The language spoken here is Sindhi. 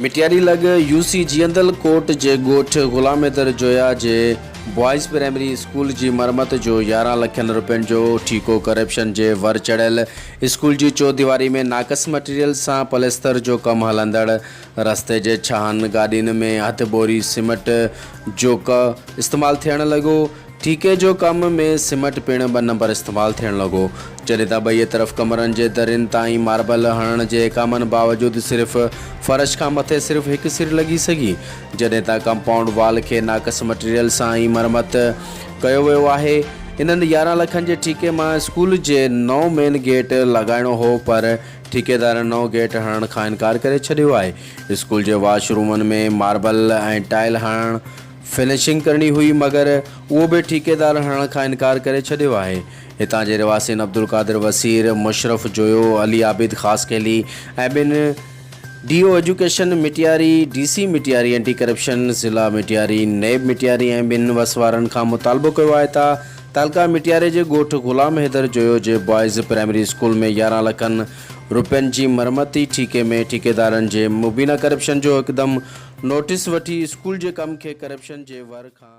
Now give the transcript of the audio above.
مٽياري لڳ يو سي جيئندل ڪوٽ جي ڳوٺ غلام حيدر جويا جي بوائز پرائمري اسڪول جي مرمت جو يارهن لکن روپين جو ٺيڪو ڪرپشن جي ور چڙهيل، اسڪول جي چوديواري ۾ ناقص مٽيريل سان پليستر جو ڪم هلندڙ، رستي جي ڇهن گاڏين ۾ هٿ بوري سمٽ جوڪ استعمال ٿيڻ لڳو. ٺيڪي جو ڪم ۾ سمٽ پڻ ٻه نمبر استعمال ٿيڻ لڳو. جڏهن ته ٻئي طرف ڪمرن جي درين تائين ماربل هڻڻ جي احڪامن باوجود صرف فرش کان مٿي صرف هڪ سر لڳي سگهي. جڏهن ته ڪمپائونڊ وال کي ناقص مٽيريل سان ئي مرمت ڪيو ويو آهي. انهن يارهن لکن جي ٺيڪي مان اسڪول جي نئون مين گيٽ لڳائڻو هو پر ٺيڪيدارن نئون گيٽ هڻڻ کان انڪار ڪري ڇڏيو آهي، اسڪول جي واش رومن ۾ ماربل ۽ ٽائل هڻڻ، فنشنگ ڪرڻي هئي مگر اهو به ٺيڪيدار هڻڻ کان انڪار ڪري ڇڏيو آهي، هتان جي رهواسين عبدالقادر وسير، مشرف جويو، علي عابد خاصخيلي ۽ ٻن D O education Matiari, D C Matiari anti corruption, ضلع مٽياري، نيب مٽياري ۽ ٻن وس وارن کان مطالبو ڪيو آهي ته تعلقه مٽياري جي ڳوٺ غلام حيدر جويو جي بوائز پرائمري اسڪول ۾ يارهن لکن روپين جي مرمتي ٺيڪي ۾ ٺيڪيدارن جي مبينا ڪرپشن جو هڪدم نوٽيس وٺي اسڪول جي ڪم کي ڪرپشن جي ور کان